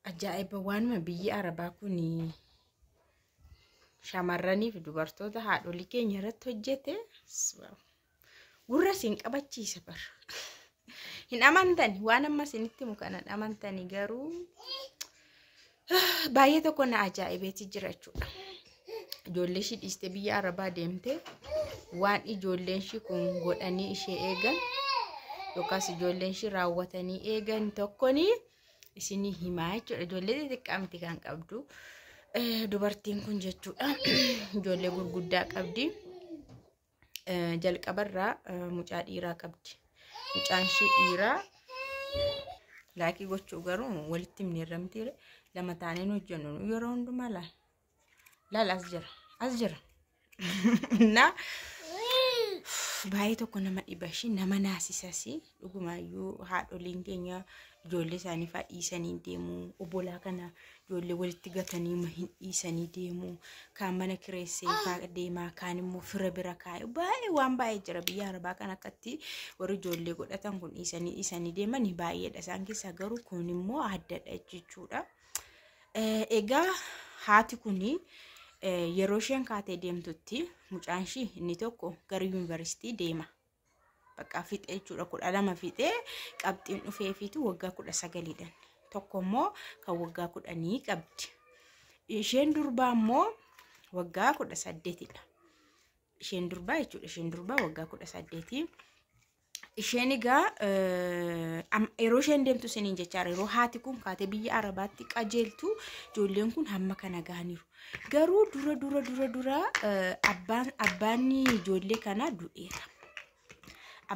Ajaa'iba waanuma biyyi Arabaa kun shamarranii fi dubartoota haadholii keenya irratti hojjete gurra isin qabachiisa bar. Hin amantani waan amma isinitti himu kana hin amantani garuu baay'ee tokko na ajaa'ibeeti jira jechuudha. Ijoollee ishii dhiistee biyya Arabaa deemtee waan ijoolleen ishii kun godhanii ishee eegan yookaas ijoolleen ishii raawwatanii eegan tokkonii. isinii himaa jechuudha. Ijoollee xixiqqaa miti kan qabdu. Dubartiin kun jechuudha ijoollee gurguddaa qabdi. Jalqabarraa mucaa dhiiraa qabdi. Mucaan ishee dhiiraa laakii gochuu garuu walitti himneerra mitiire lama taaneen hojjennu yeroo hundumaa laal Laal as jira. As jira. Na baay'ee tokko nama dhiba ishee nama naasisasi dhugumaayyuu haadholiin keenya ijoollee isaanii fa'aa dhiisanii deemu obbolaa kana ijoollee walitti gatanii ma hin dhiisanii deemu kaan mana kireessee faa deemaa kaan immoo fira bira kaa'e baay'ee waan baay'ee jira biyya arabaa kan akkatti warri ijoollee godhatan kun dhiisanii dhiisanii deemanii baay'eedha isaan keessaa garuu kun immoo addadha jechuudha. Eh, Egaa haati kun yeroo isheen kaatee deemtutti mucaan ishii inni tokko gara yuunivarsiitii deema. Bakka fixee jechuudha kudha lama fixee qabxiin dhufeefiitu waggaa kudha sagaliidhaan tokko immoo kan waggaa kudhanii qabdi. Isheen durbaa immoo waggaa kudha saddeetidha. Isheen durbaa jechuudha isheen durbaa waggaa kudha saddeetii. isheen egaa yeroo isheen deemtu isiniin jechaa yeroo haati kun kaatee biyya arabaatti qajeeltu ijoolleen kun hamma kana gahaniiru. Garuu dura dura dura dura abbaan abbaan ijoollee kanaa du'eera.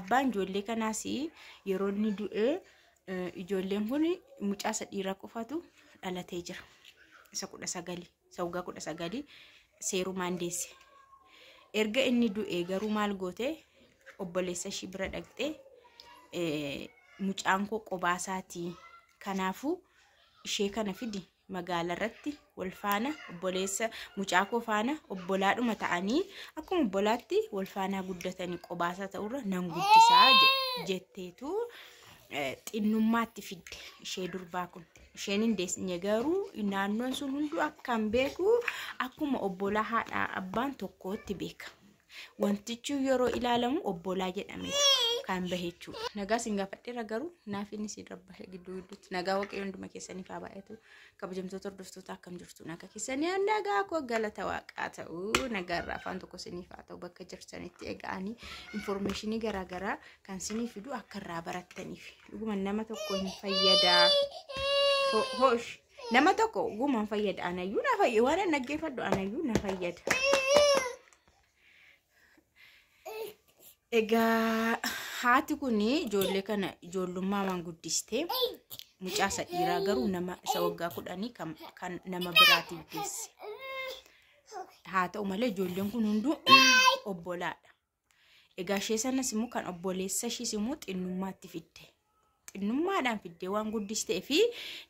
Abbaan ijoollee kanaas yeroo inni du'e ijoolleen kun mucaa isa dhiiraa qofatu dhalatee jira. Isa kudha sagalii. isa waggaa kudha sagalii seerumaan deesse. Erga inni du'e garuu maal goote obboleessa ishii bira dhaqxee eh, mucaan koo qobaa isaatii kanaafuu ishee kana fidi magaala irratti wal faana obboleessa mucaa koo faana obbolaadhuma ta'anii akkuma obbolaatti wal faanaa guddatanii qobaasaa ta'urra nan guddisaa je- jetteetu eh, xinnummaatti fidde ishee durbaa kun. isheen hin deessinye garuu naannoon sun hunduu akkan beeku akkuma obbolaa haadha abbaan tokkootti beeka. Wantichi yeroo ilaalamu obbolaa jedhamee kan bahe jechuudha. Nagaa sin gaafadheera garuu naaf inni sin rabbahe gidduu gidduutti nagaa waaqayyo hunduma keessaniif haa baay'atu. Kabajamtoota hordoftoota akkam jirtu nagaa keessanii nagaa koo galata waaqaa ta'u nagaa irraa afaan tokko siniif haa ta'u bakka jirtanitti egaanii infoormeeshinii garaagaraa kan sinii fidu akka irraa barattaniif dhuguma nama tokko hin fayyadaa Ho- hoosh nama tokko dhuguma hin fayyada anayyuu na fayyada waan an dhaggeeffadhu anayyuu na fayyada egaa haati kun ijoollee kana ijoollummaa waan guddistee mucaa isa dhiiraa garuu nama isa waggaa kudhanii kan kan nama biraatiif geesse haa ta'u malee ijoolleen kun hunduu obbolaadha Egaa ishee sanas immoo kan obboleessa ishiis immoo xinnummaatti fidde. Xinnummaadhaan fidde waan guddistee fi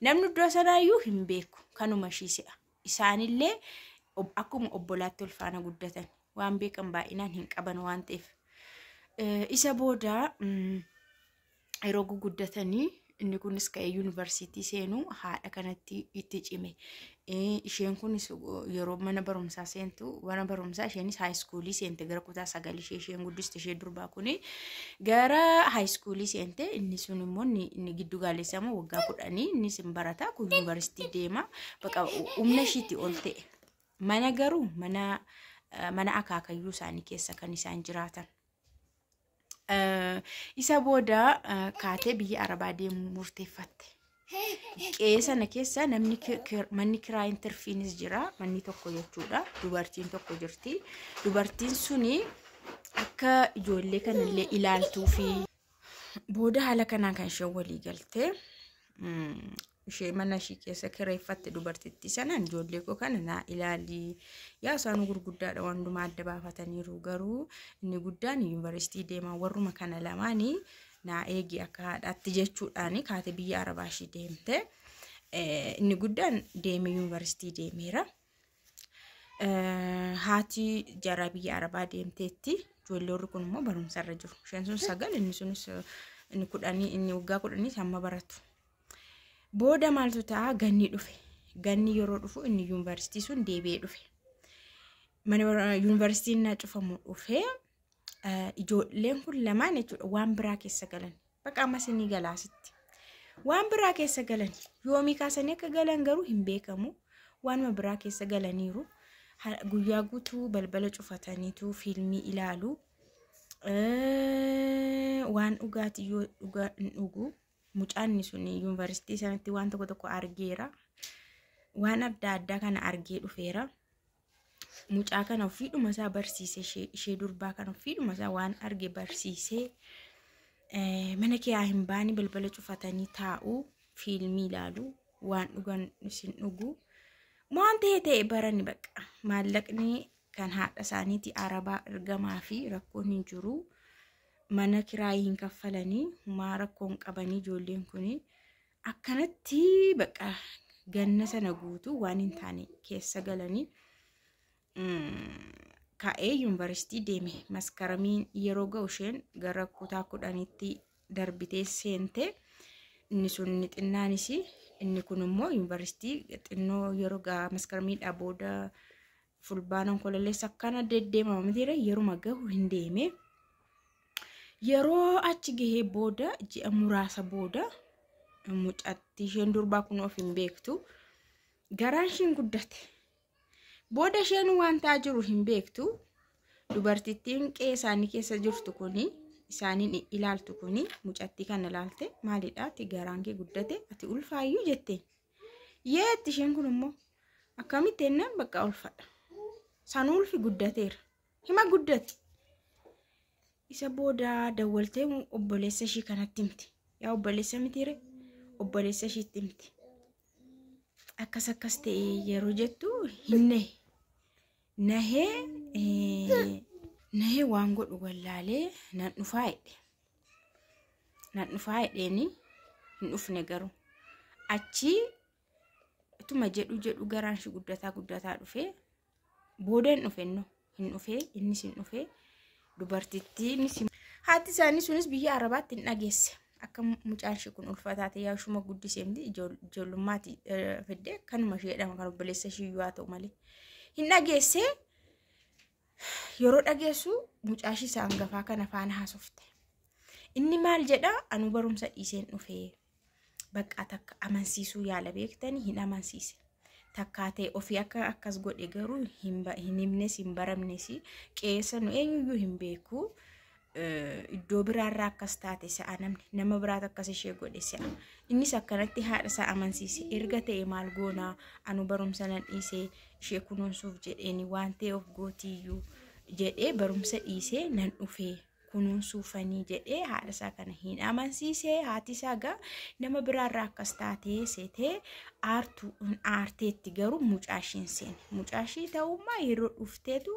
namni iddoo sanaayyuu hin beeku kanuma ishii se'a. Isaanillee ob- akkuma obbolaatti wal faana guddatan waan beekan baay'inaan hin qaban waan ta'eef. Eh, Isa booda mm, yeroo guguddatanii inni kunis ka'ee yuunivarsiitii seenuu haadha kanatti itti cime. Isheen kunis yeroo mana barumsaa seentu mana barumsaa isheenis haayiskuulii seente gara kutaa sagal ishee isheen guddiste ishee durbaa kuni gara haayiskuulii seente inni sun immoo inni giddu gaalessaa immoo waggaa kudhanii innis hin barata kun yuunivarsiitii deema baqa humna ishiitti ol ta'e. Mana garuu mana mana akaakayyuu isaanii keessa kan isaan jiraatan. Eh, Isa booda eh, kaatee biyya Arabaa deemuu murteeffatte. Qe'ee sana keessa namni ki- ki- manni kiraa intarfiinis jira. Manni tokko jechuudha. Dubartiin tokko jirti. Dubartiin suni akka ijoollee kanallee ilaaltuu fi booda haala kanaan kan isheen walii galte mm, ishee mana ishii keessa kireeffatte dubartittii sanaan ijoollee koo kana naa ilaali yaa isaanuu gurguddaadha waan hundumaa adda baafataniiru garuu inni guddaan yuunivarsiitii deemaa warruma kana lamaanii naa eegi akka haadhaatti jechuudhaan kaate biyya arabaa ishii deemte Eh, inni guddaan deemee yuunivarsiitii deemeera. Eh, haati jaraa biyya arabaa deemteetti ijoollee warri kun immoo barumsa irra jiru isheen sun sagal inni sunis eh, inni kudhanii inni waggaa kudhanii hamma baratu Booda maaltu ta'a ganni dhufe. Ganni yeroo dhufu inni yuunivarsiitii sun deebi'ee dhufe. Mana bara- yuunivarsiitiin naa cufamu dhufee eh, ijoolleen kun lamaan jechuudha waan biraa keessa galan. Baqa ammas inni galaasitti. Waan biraa keessa galan yoomii kaasanii akka galan garuu hin beekamu. Waanuma biraa keessa galaniiru. Ha- Guyyaa guutuu balbala cufataniitu fiilmii ilaalu. Eh, Waan dhugaatii yoo dhugaa hin dhugu. mucaanni sun yuunivarsiitii sanatti waan tokko tokko argeera. Waan adda addaa kana argee dhufeera. Mucaa kana ofiidhuma isaa barsiise ishee- ishee durbaa kana ofiidhuma isaa waan arge barsiisee eh, mana kee haa hin baani balbala cufatanii taa'u fiilmii ilaalu waan dhugan isin dhugu waan ta'e ta'e barani baqa maallaqni kan haadha isaaniiti arabaa ergamaa fi rakkoon hin jiru. mana kiraayii hin kaffalanii humaa rakkoo hin qabanii ijoolleen kun akkanatti baqa ganna sana guutuu waan hin taane keessa galanii ka'ee yuunivarsiitii deeme maskaramiin yeroo ga'u isheen gara kutaa kudhanitti darbitee seente inni sun inni xinnaanis inni kun immoo yuunivarsiitii xinnoo yeroo gaa maskaramii dhabooda Fulbaana Onkololeessa akkana deddeemama mitiire yeruma gahu hin deeme. Yeroo achi gahee booda ji'a muraasa booda mucatti isheen durbaa kun of hin beektu garaan isheen guddate. Booda isheen waan ta'aa jiru hin beektu dubartittiin qe'ee isaanii keessa jirtu kuni isaaniin ilaaltu kuni mucattii kana ilaalte maalidha ati garaan kee guddate ati ulfaayyuu jetteen. Yeetti isheen kun immoo akkamitti jennaan bakka ulfadha. San ulfi guddateera. Hima guddate. Isa booda dawwaltee obboleessa ishii kanatti himte. Yaa obboleessa mitiire obboleessa ishiitti himte. Akkas akkas ta'e yeroo jettu hin nahe. Nahee eh, nahee waan godhu wallaalee nan dhufaa jedhe. nan dhufaa jedheeni hin dhufne garuu achii utuma jedhu jedhu garaan shi guddataa guddataa dhufee booda hin dhufenno hin dhufee innis hin dhufee dubartittiinis hin- haati isaanii sunis biyya arabaatti hin dhageesse akka mu- mucaan ishee kun ulfataa ta'e yaa ishuma guddisee miti ijool- ijoollummaati eh, fidde kanuma ishee jedhama kan obboleessa ishee iyyuu haa ta'u malee hin dhageessee Yeroo dhageessu mucaashi isa angafaa kana faana haasofte. Inni maal jedha anuu barumsa dhiiseen dhufee baqqaa takka amansiisuu yaala beektanii hin amansiise. Takkaa ta'e ofii akka akkas godhe garuu hin ba- hin himnes hin baramnes qeessa nu eenyuyyuu hin beeku. iddoo biraarraa akkas taate sa'a namni nama biraatu akkas ishee godhe sa'a innis akkanatti haadha isaa amansiise erga ta'e maal goonaa anu barumsa nan dhiisee ishee kunuunsuuf jedheeni waan ta'e of gootiyyuu jedhee barumsa dhiisee nan dhufee kunuunsuufanii jedhee haadha isaa kana hin amansiise haati isaa gaa nama biraarraa akkas taatee seetee aartu aarteetti garuu mucaashiin seene mucaashii ta'ummaa yeroo dhufteetu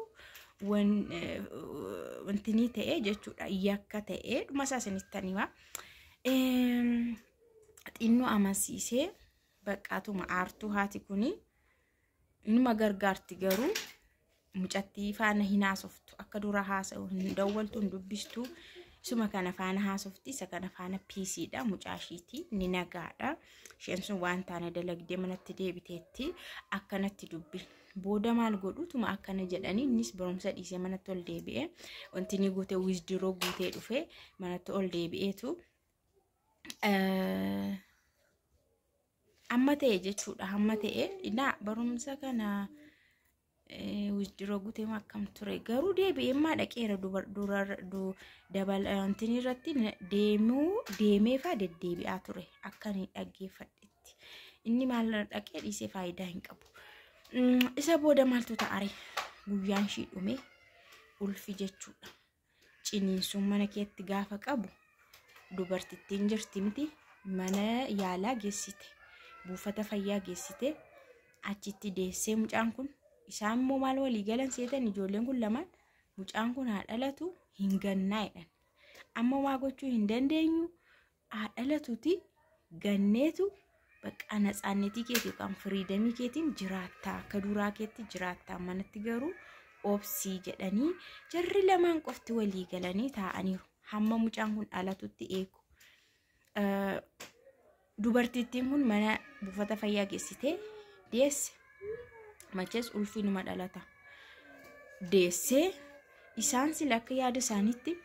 wanti ni ta'e jechuudha yakka ta'e dhuma isaa isinitti hima. Xinnoo amansiisee baqqaatuma aartuu haati kuni numa gargaarti garuu mucattii faana hin haasoftu akka dura haasa'u hin dawwaltu hin dubbistu isuma kana faana haasofti isa kana faana piisiidha mucaashiiti ni nagaadha isheen sun waan taane dalagdee manatti deebiteetti akkanatti dubbi Booda maal godhu tuma akkana jedhanii innis barumsa dhiisee manatti ol deebi'ee wanti inni guute wiizdiroo guutee dhufee manatti ol deebi'eetu eh, amma ta'e jechuudha amma ta'e naa barumsa kana wiizdiroo guutee maa akkam ture garuu deebi'ee maa dhaqeera dubar- durar- du- dabal wantin irratti na- deemuu deemeefaa deddeebi'aa ture akka inni dhaggeeffadhetti. tti. Inni maal dhaqee dhiisee faayidaa hin qabu. Mm, Isa booda maaltu ta'are? Guyyaan ishii dhume ulfi jechuudha. Ciniinsuun mana keetti gaafa qabu dubartittiin jirti miti mana yaalaa geessite buufata fayyaa geessite achitti deessee mucaan kun isaan immoo maal walii galan seetan ijoolleen kun lamaan mucaan kun haa dhalatu hin gannaa'edhan amma waa gochuu hin dandeenyu haa dhalatuti ganneetu bakka natsaannetii keeti yookaan firiidamii keetiin jiraattaa akka duraa keetti jiraattaa manatti garuu obsii jedhanii jarri lamaan qofti walii galanii taa'aniiru hamma mucaan kun dhalatutti eegu. Dubartittiin kun mana buufata fayyaa geessitee deesse machees ulfiinuma dhalata deessee Isaan sila akka yaada isaaniitti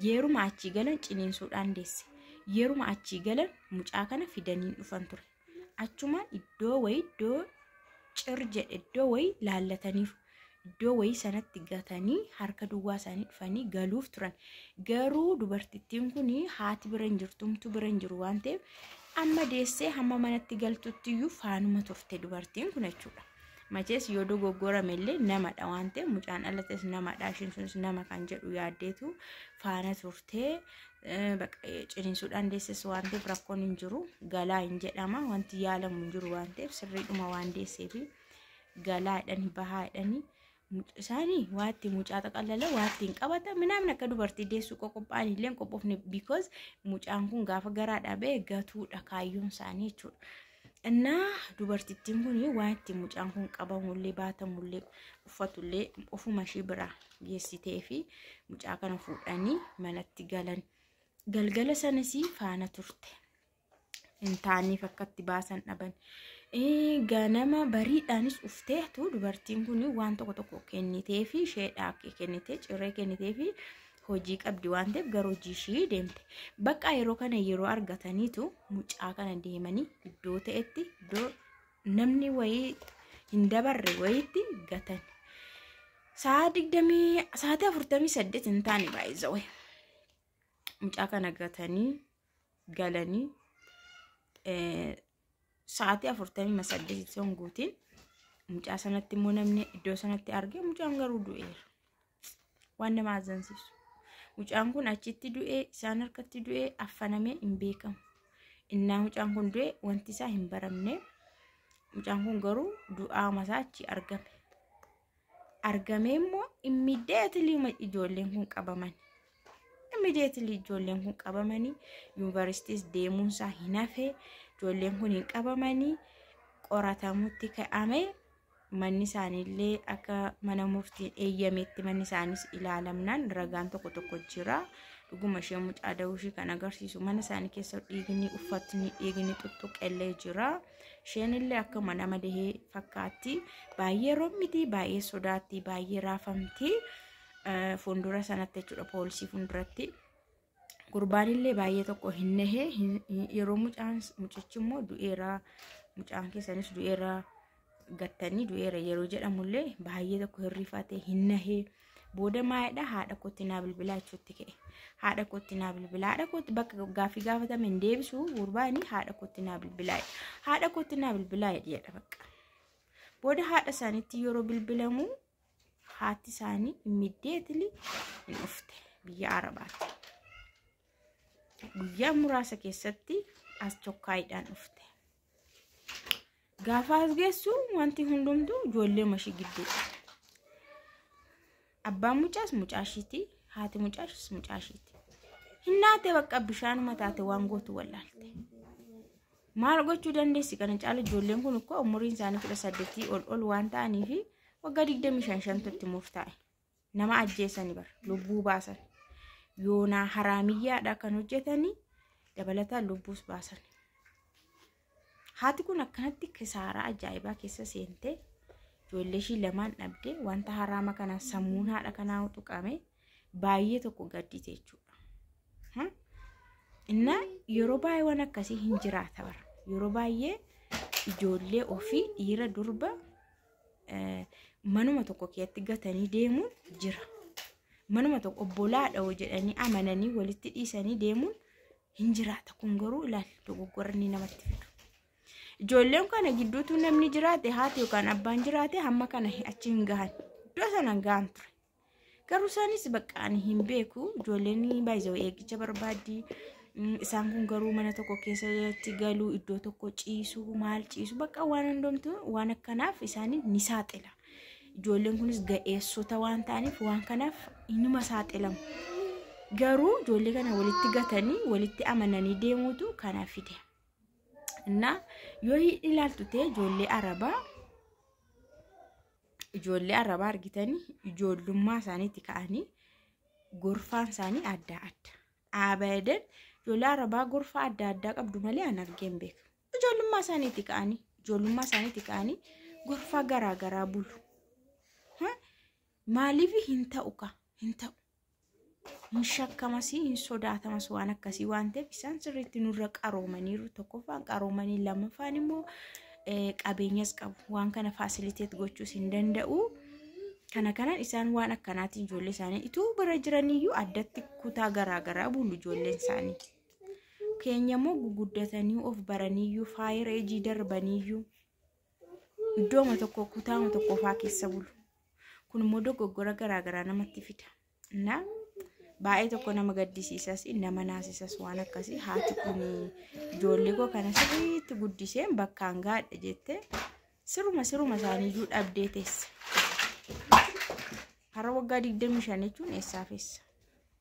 yeruma achii galan ciniinsuudhaan deesse. Yeruma achii galan mucaa kana fidaniin dhufan ture. Achumaan iddoo wayii iddoo cir jedhe iddoo wayii laallataniiru. Iddoo wayii sanatti gatanii harka duwwaa isaanii dhufanii galuuf turan. Garuu dubartittiin kun haati bira hin jirtu, humtu bira hin jiru waan ta'eef amma deessee hamma manatti galtutti iyyuu faanuma turte dubartiin kun jechuudha. Machees yoo dogoggorame illee namadha waan ta'eef mucaan dhalates namadha isheen sunis nama kan jedhu yaaddeetu faana turtee ciniinsuudhaan deesses waan ta'eef rakkoon hin jiru galaa hin jedhama wanti yaalamu hin jiru waan ta'eef sirriidhuma waan deesseefi galaadhani bahaadhani muc- isaanii waatti mucaa xaqallala waatti hin qabata minaamin akka dubartii deessuu qoqophaan illee hin qophofne because mucaan kun gaafa garaa dhabee gatuudha kaayyoon isaanii jechuudha. Innaa dubartittiin kun waatti mucaan kun qabamullee baatamullee uffatullee ofuma ishii biraa geessitee fi mucaa kana fuudhanii manatti galan. Galgala sanas faana turte. hin taaneef akkatti baasan dhaban. Ganama bariidhaanis ufteetu dubartiin kun waan tokko tokko kennitee fi isheedhaa kennitee ciree kennitee fi hojii qabdi waan ta'eef gara hojii ishii deemte. Bakka yeroo kana yeroo argataniitu mucaa kana deemanii iddoo ta'etti iddoo namni wayii hin dabarre wayiitti gatan. Sa'a digdamii sa'aatii afurtamii saddeet hin taane baay'ee mucaa kana gatanii galanii sa'aatii afurtamii saddeet sun guutiin mucaa sanatti immoo namni iddoo sanatti argee mucaan garuu du'eera. Waan nama azzansiisu. Mucaan kun achitti du'ee isaan harkatti du'ee affanamee hin beekamu. Innaa mucaan kun du'e wanti isaa hin baramne. Mucaan kun garuu du'aa masaa achi argame. argamee immoo immediately uma ijoolleen kun qabaman immediately ijoolleen kun qabamanii yuunivarsiitiis deemuunsaa hin hafe ijoolleen kun hin qabamanii qoratamutti ka'ame manni isaaniillee akka mana murtiin eeyyametti manni isaaniis ilaalamnaan ragaan tokko tokko jira dhuguma ishee mucaa da'uu ishee kan agarsiisu mana isaanii keessa dhiigni uffatni dhiigni tuttuqellee jira. Isheen illee akkuma nama dahee fakkaatti. Baay'ee rommiti, baay'ee sodaatti, baay'ee raafamti. Eh, Fuuldura sanatti jechuudha poolisii fuulduratti. Gurbaan illee baay'ee tokko hin nahe hin- hin- yeroo mucaan mucichi immoo du'eera mucaan keessanis du'eera gattanii du'eera yeroo jedhamullee baay'ee tokko hin rifatee hin nahee. Booda maayidha haadha kootti naa bilbilaa jechuutti ka'e. Haadha kootti naa bilbilaa. Haadha kootti bakka gaaffii gaafatame hin deebisu gurbaani haadha kootti naa bilbilaa. Haadha kootti naa bilbilaa jedha bakka. Booda haadha isaaniitti yeroo bilbilamu haati isaanii immediately hin dhufte biyya Arabaatti. Guyyaa muraasa keessatti as chokkaayidhaan dhufte. Gaafa as geessu wanti hundumtuu ijoollee mashii gidduu. Abbaan mucaas mucaashiiti. Haati mucaashis mucaashiiti. Hin naate bakka bishaanuma taate waan gootu wallaalte. Maal gochuu dandeessi kana caala ijoolleen kun ummuriin isaanii kudha saddeetii ol ol waan ta'aniifi waggaa digdamii shan shantu itti murtaa'e. nama ajjeesani bar lubbuu baasan yoonaa haraamiyyaadha kan hojjetanii dabalataan lubbuus baasan haati kun akkanatti kisaaraa ajaa'ibaa keessa seentee ijoollee ishii lamaan dhabdee wanta haraama kanaan sammuun haadha kanaa tuqame baay'ee tokko gaddite jechuudha. Hmm? Inna yeroo baay'ee waan akkasii hin jiraata bara yeroo baay'ee ijoollee ofii dhiira durba manuma tokko keessatti gatanii deemuun jira. Manuma tokko obbolaadha hoo jedhanii amananii walitti dhiisanii deemuun hin jiraata. Kun garuu ilaali dogoggora inni namatti fidu. Ijoolleen kana gidduutu namni jiraate haati yookaan abbaan jiraate hamma kana achi hin gahan. Iddoo sana hin gahan ture. Garuu isaanis bakka ani hin beeku ijoolleen baay'ee eeggicha barbaaddi. Mm, Isaan kun garuu mana tokko keessatti galu iddoo tokko ciisu maal ciisu bakka waan hundumtu waan akkanaaf isaanii ni saaxila. Ijoolleen kunis ga'eessota waan ta'aniif waan kanaaf inuma saaxilamu. Garuu ijoollee kana walitti gatanii walitti amananii deemuutu kana fide. እና yoo ilaaltu ta'e ijoollee arabaa Ijoollee arabaa argitanii ijoollummaa isaaniitti ka'anii gorfaan isaanii adda adda. Abadan ijoollee arabaa gorfaa adda addaa qabdu malee an argee hin beeku. Ijoollummaa isaaniitti ka'anii ijoollummaa isaaniitti ka'anii gorfaa garaa garaa bulu. Maaliif hin ta'u ka hin ta'u. hin shakkamas hin sodaatamas waan akkasii waan ta'eef isaan sirriitti nurra qaroomaniiru tokkoffaan qaroomanii lammaffaan immoo qabeenyas qabu waan kana faasiliteet gochuus hin danda'u kana kanan isaan waan akkanaatiin ijoollee isaanii ituu bira jiraniyyuu addatti kutaa garaagaraa bulu ijoolleen isaanii keenya immoo guguddatanii of baraniyyuu faayira ejii darbaniyyuu iddooma tokko kutaama tokkofaa keessa bulu kun immoo dogoggora garaagaraa namatti fida na baay'ee tokko nama gaddisiisas nama naasisas waan akkasii haati kun ijoollee koo kana sirriitti guddiseen bakkaan gaadha jettee siruma siruma isaaniiyyuu dhabdee teessa har'a waggaa 25 jechuun eessaaf eessa